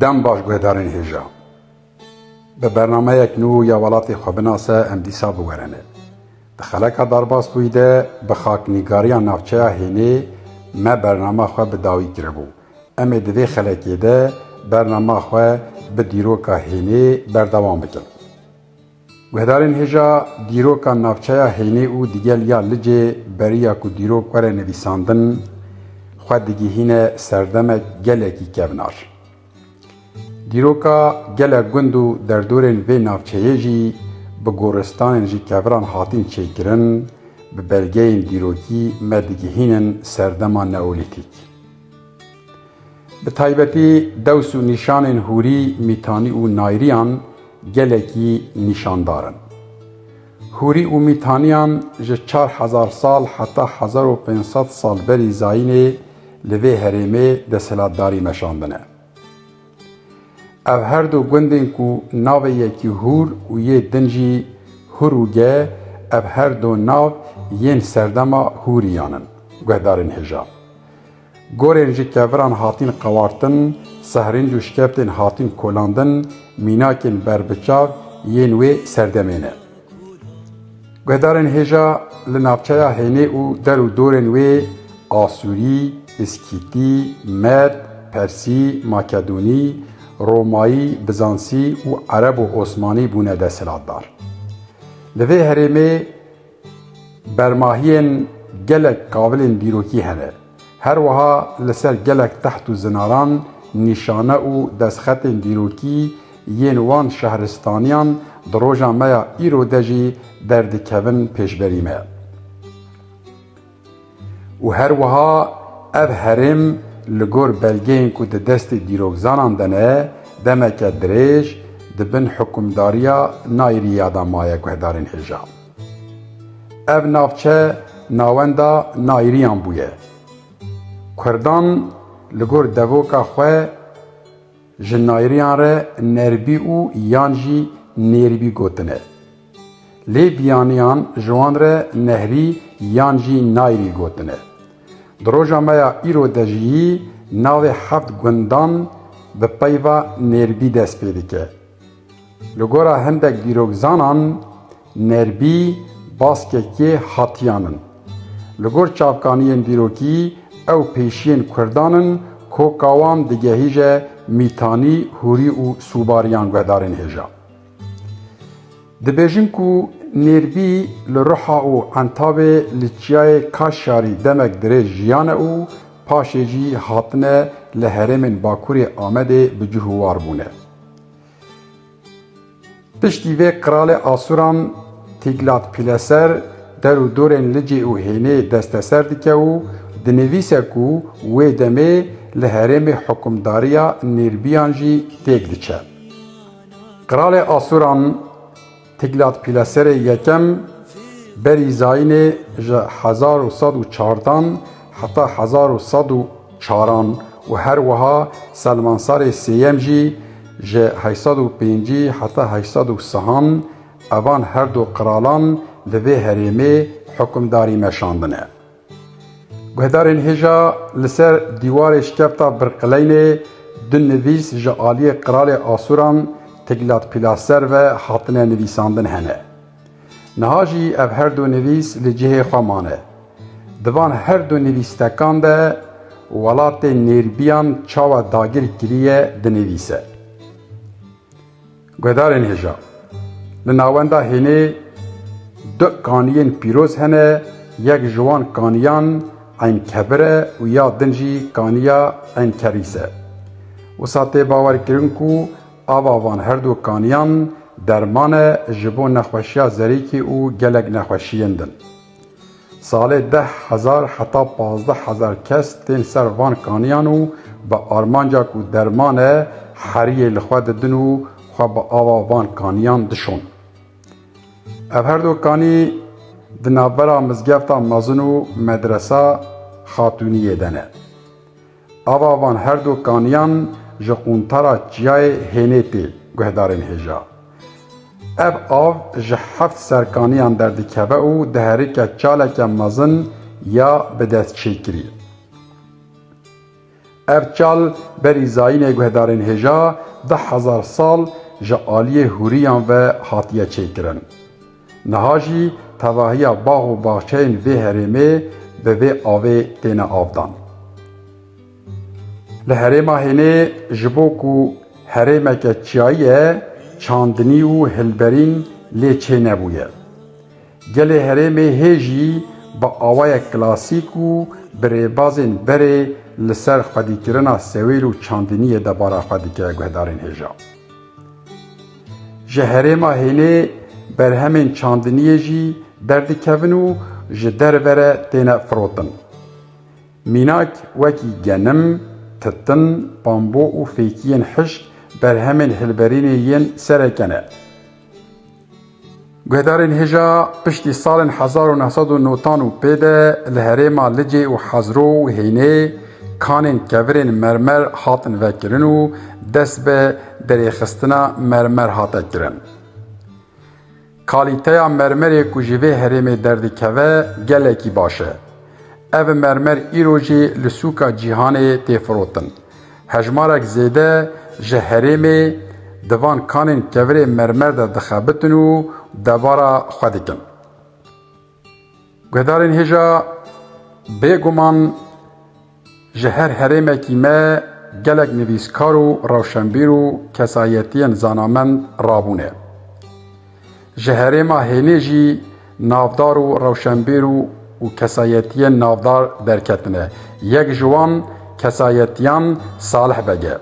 Dem baş guhdarên hêja. Bi bernameyek nû ya welatê xwe binase em dîsa biwerene. Di xeleka Darbasbûyî de bi xaknîgariya navçeya Hênê me bernama xwe bi dawî kiribû. Em ê di vê xelekê de bernama xwe bi dîroka Hênê berdewam bikin. Guhdarên hêja dîroka navçeya Heynê û digel ya Licê beriya ku dîrok were nivîsandin xwe digihîne serdemek gelekî kevnar. Dîroka gelek gund û derdorên vê navçeyê jî bi goristanên ji keviran hatin çêkirin, bi belgeyên dîrokî me digihînin serdema neolîtîk. Bi taybetî dews û nîşanên hûrî, mîtanî û nayriyan gelekî nîşandar in. Hûrî û mîtaniyan ji çar hezar sal heta hezar û pênc sed sal berî zayînê li vê herêmê desthilatdarî meşandine. Ev her du gundên ku navê yekî Hûr û yê din jî Hurûge ev her du nav yên serdema Hûrîyan in, guhdarên hêja. Gorên ji keviran hatîn qewartin, sehrînc û şkeptên hatîn kolandin, mînakên berbiçav yên wê serdemê ne. Guhdarên hêja li navçeya Hênê û der û dorên wê Asûrî, Îskîtî, Med, Persî, Makedonî, Romayî, Bizansî û Ereb û Osmanî bûne desthilatdar. Li vê herêmê, Bermahiyên gelek qabilên dîrokî hene. Her wiha li ser gelek teht û zinaran nîşane û destxetên dîrokî yên wan şehristaniyan di roja me ya îro de jî derdikevin pêşberî me. Û her wiha ev herêm li gor belgeyên ku di destê dîrokzanan de ne, demeke dirêj di bin hikûmdariya Nairîya de maye guhdarên hêja. Ev navçe navenda Nairîyan bûye. Kurdan li gor devoka xwe, Ji nayriyan re nerbî û yan jî nêrîbî gotine. Lê biyaniyan ji wan re nehrî yan jî nayrî gotine. Di roja me ya îro de jî navê heft gundan bi peyva nêrîbî dest pê dike. Li gora hindek dîrokzanan, Nerbî baskekê hatiyan in. Li gor çavkaniyên dîrokî ew pêşiyên Kurdan in ku ka wan digehîje mîtanî, hûrî û sûbarî yan guhdarên hêja. Dibêjin ku Nêrbî li Ruha û Entavê li çiyayê Kaşyarî demek dirêj jiyane û paşê jî hatine li herêmên Bakurê Amedê bi cih û war bûne. Piştî vê qralê Asuran Tîglatpîleser der û dorên Licê û Hênê desteser dike û dinivîse ku wê demê li herêmê hukimdariya Nêrbiyan jî têk diçe. Qralê Asuran. Tiglat Pileserê Yekem berî zayînê ji hezar û sed û çardan heta hezar û sed û çaran û her wiha Selmansarê Sêyem jî ji heşt sed û pêncî heta heşt sed û sihan evan her du qiralan li vê herêmê hukimdarî meşandine. Guhdarên hêja li ser dîwarê şkefta Birqileynê du nivîs ji aliyê qiralê Asûran Tiglatpîlaser ve hatine nivîsandin hene. Niha jî ev her du nivîs li cihê xwe mane. Di van her du nivîstekan de welatê nêrbiyan çawa dagir kiriye dinivîse. Guhdarên hêja, Li navenda hênê du kaniyên pîroz hene, yek ji wan kaniyan Eyn Kebir e û ya din jî kaniya Eyn Kerîs e. Wisa tê bawerkirin ku ava van her du kaniyan derman e ji bo nexweşiya zerîkê û gelek nexweşiyên din. Salê deh hezar heta pazdeh hezar kes tên ser van kaniyan û bi armanca ku derman e heriyê li xwe didin û xwe bi ava van kaniyan dişon. Ev her do kanî di navbera mizgefta mezin û medresa Xatûniyê de ne. Ava van her du kaniyan ji quntara çiyayê Hênêtê guhdarên hêja. Ev av ji heft serkaniyan derdikeve û diherike çaleke mezin ya bidestçêkirî. Ev çal berî zayînê guhdarên hêja deh hezar sal ji aliyê hûriyan ve hatiye çêkirin. Niha jî tevahiya bax û baxçeyên vê herêmê bi vê avê têne avdan. Li herêma Hênê ji bo ku herêmeke çiyayî ye çandinî û hilberîn lê çê nebûye. Gelê herêmê hê jî bi awayek klasîk û bi rêbazên berê li ser xwedîkirina sewêl û çandiniyê debara xwe dike guhdarên hêja. Ji herêma hênê berhemên çandiniyê jî derdikevin û ji derve re têne firotin. Mînak wekî genim, titin, bambo û fêkiyên hişk berhemên hilberînê yên sereke ne. Guhdarên hêja piştî salên hezar û neh sed û notan û pê de li herêma Licê û Hezro û Hênê kanên kevirên mermer hatin vekirin û dest bi derêxistina mermer hate kirin. Kalîteya mermerê ku ji vê herêmê derdikeve gelekî baş e. Ev mermer îro jî li sûka cîhanê tê firotin. Hejmarek zêde ji herêmê di van kanên kevirê mermer de dixebitin û debara xwe dikin. Guhdarên hêja bêguman ji her herêmekî me gelek nivîskar û rewşenbîr û kesayetiyên zanamend rabûne. Ji herêma hênê jî navdar û rewşenbîr û kesayetiyên navdar derketine. Yek ji wan kesayetiyan Salih Beg e.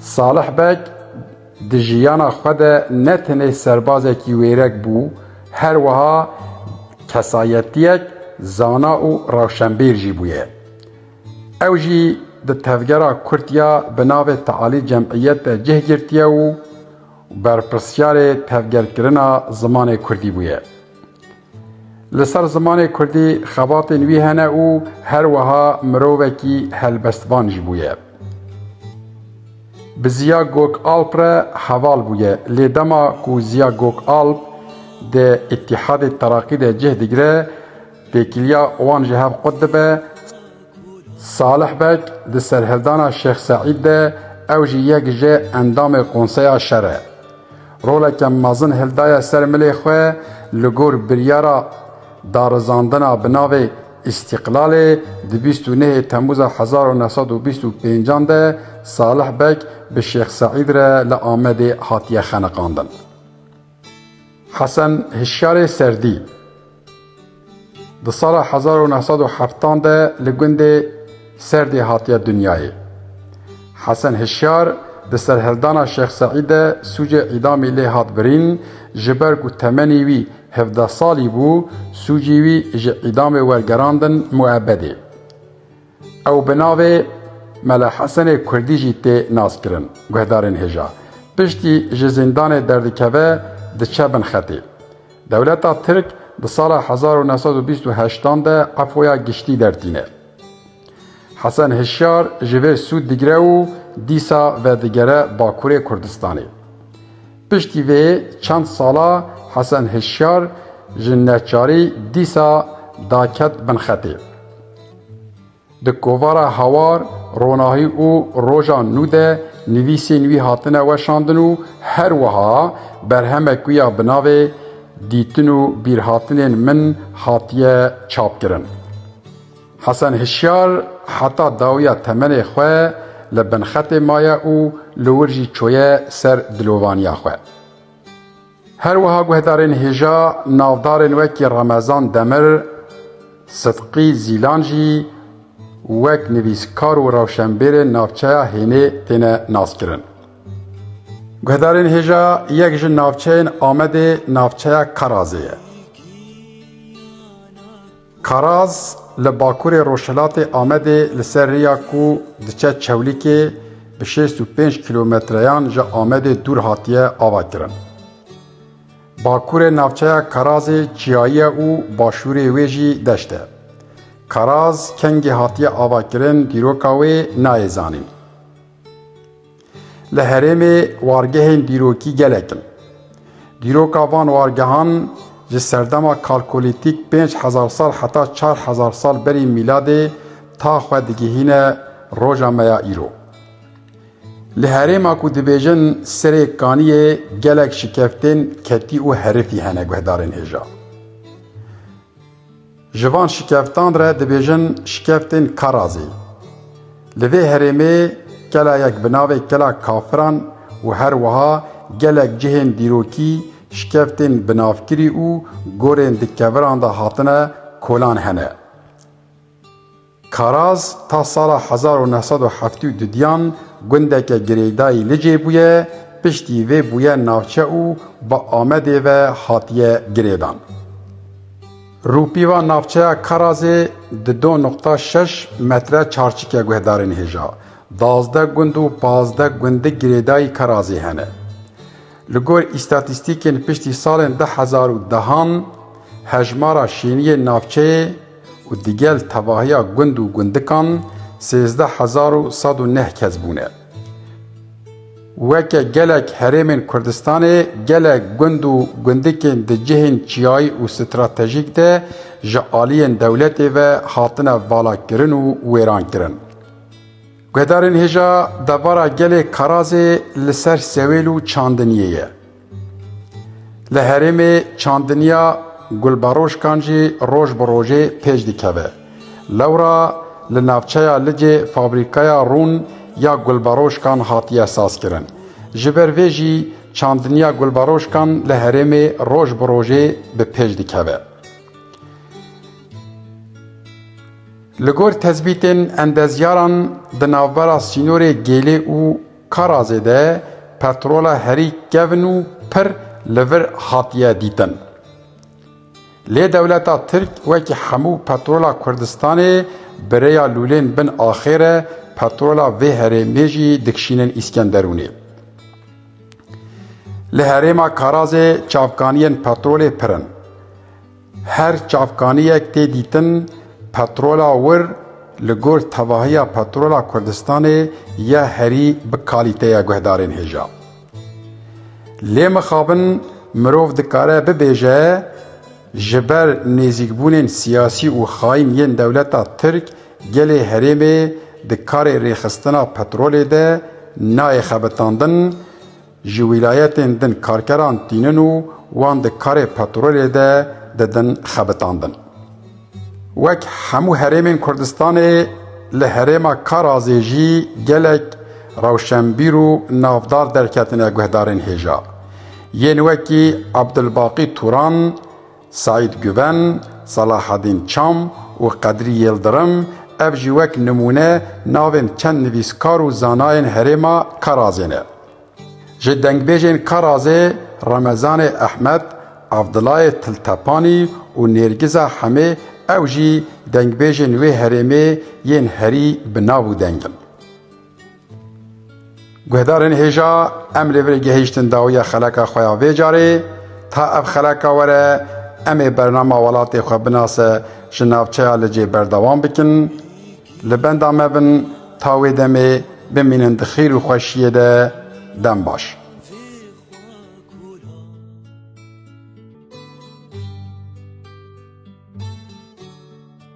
Salih Beg di jiyana xwe de ne tenê serbazekî wêrek bû, her wiha kesayetiyek zana û rewşenbîr jî bûye. Ew jî di tevgera Kurd ya bi navê Tealî Cemîyet de cih girtiye û berpirsyarê tevgerkirina zimanê Kurdî bûye. Li ser zimanê Kurdî xebatên wî hene û her wiha mirovekî helbestvan jî bûye. Bi Ziya Gokalp re heval bûye lê dema ku Ziya Gokalp di Îtîhadê Terakî de cih digire, Têkiliya wan ji hev qut dibe. Salih Beg di serhildana Şêx Seîd de ew jî yek ji endamê konseya şer e. Roleke mezin hildaye ser milê xwe li gor biryara darizandina bi navê Îstîqlalê di bîst û nehê Temûza hezar û neh sed û bîst û pênc an de Salih Beg bi Şêx Seîd re li Amedê hatiye xeniqandin. Hesen Hişyarê Serdî di sala hezar û neh sed û heftan de li gundê Serdê hatiye dinyayê. Hesen Hişyar di serhildana Şêx Seîd de sûcê îdamî lê hat birîn, ji ber ku temenî wî hevdeh salî bû, sûcî wî ji îdamê wergerandin muebedê. Ew bi navê Mele Hesenê Kurdî jî tê naskirin. Guhdarên hêja piştî ji zîndanê derdikeve diçe bin xetê. Dewleta Tirk di sala hezar û neh sed û bîst û heşt an de efûya giştî dertîne. Hesen Hişyar ji vê sûd digire û dîsa vedigere Bakurê Kurdistanê. Piştî vê çend sala Hesen Hişyar ji neçarî dîsa daket bin xetê. Di kovara Hawar, Ronahî û Roja Nû de nivîsên wî hatine weşandin û her wiha berhemek wî ya bi navê Dîtin û bîrhatinên min hatiye çapkirin. Hesen Hişyar heta dawiya temenê xwe li binxetê maye û li wir jî çûye ser dilovaniya xwe. Her wiha guhdarên hêja navdarên wekî Remezan Demir, Sidqî Zîlan jî wek nivîskar û rewşenbêrên navçeya Hênê têne naskirin. Guhdarên hêja yek ji navçeyên Amedê navçeya Karazê ye. Karaz li bakurê rojhilatê Amedê li ser rêya ku diçe Çewlîkê bi şêst û pênc kîlometreyan ji Amedê dûr hatiye avakirin. Bakurê navçeya Karazê çiyayî ye û başûrê wê jî deşt e. Karaz kengî hatiye avakirin dîroka wê nayê zanîn. Li herêmê wargehên dîrokî gelek in. Dîroka van wargehan ji serdema kalkolîtîk pênc hezar sal heta çar hezar sal berî mîladê ta xwe digihîne roja me ya îro. Li herêma ku dibêjin Serê Kaniyê gelek şikeftên ketî û herifî hene guhdarên hêja. Ji van şikeftan re dibêjin şikeftên Karazê. Li vê herêmê kelayek bi navê Kela Kafiran û her wiha gelek cihên dîrokî, şikeftên binavkirî û gorên di keviran de hatine kolan hene. Karaz ta sala hezar û neh sed û heftê û dudiyan gundeke girêdayî Licê bûye, piştî vê bûye navçe û bi Amedê ve hatiye girêdan. Rûpîva navçeya Karazê di do nuqta şeş metre çarçike guhdarên hêja dazdeh gund û pazdeh gundik girêdayî Karazê hene. Li gor îstatîstîkên piştî salên du hezar û dehan hejmara şêniyên navçeyê, û digel tevahiya gund û gundikan sêzdeh hezar û sed û neh kes bûne. Weke gelek herêmên Kurdistanê gelek gund û gundikên di cihên çiyayî û stratejîk de ji aliyên dewletê ve hatine valakirin û wêrankirin. Guhdarên hêja devara gelê Karazê li ser Sewêl û Çandiniyê ye. Li herêmê çandiniya gulberoşkan jî roj bi rojê pêş dikeve. Lewra li navçeya Licê fabrîkaya rûn ya gulberoşkan hatiye sazkirin. Ji ber vê jî çandiniya gulberoşkan li herêmê roj bi rojê bi pêş dikeve. Li gor tezbîtên endezyaran di navbera sînorê Gêlê û Karazê de petrola herî kevn û pir li vir hatiye dîtin. Lê dewleta Tirk wekî hemû petrola Kurdistanê bi rêya lûlên bin axê re petrola vê herêmê jî dikişînin Îskenderûnê. Li herêma Karazê çavkaniyên petrolê pir in. Her çavkaniyek tê dîtin petrola wir li gor tevahiya petrola Kurdistanê ya herî bi kalîte ya guhdarên hêja. Lê mixabin mirov dikare bibêje ji ber nêzîkbûnên siyasî û xayîn yên dewleta Tirk gelê herêmê di karê rêxistina petrolê de nayê xebitandin, Ji wîlayetên din karkeran tînin û wan di karê petrolê de didin xebitandin. Wek hemû herêmên Kurdistanê li herêma Karazê jî gelek rewşenbîr û navdar derketine guhdarên hêja. Yên wekî Abdulbaqî Turan, Seîd Guven, Selahedîn Çam û Qedrî Yildirim, ev jî wek nimûne navên çend nivîskar û zanayên herêma Karazê ne. Ji dengbêjên Karazê Remezanê Ehmed, Evdilayê Tiltepanî û Nêrgiza Hemê ew jî dengbêjên wê herêmê yên herî bi nav û deng in. Guhdarên hêja em li vir gehîştin dawiya xeleka xwe ya vê carê. Ta ev xeleka were em ê bernama welatê xwe binase ji navçeya Licê berdewam bikin. Li benda me bin ta wê demê bimînin di xêr û xweşiyê de. Dem baş.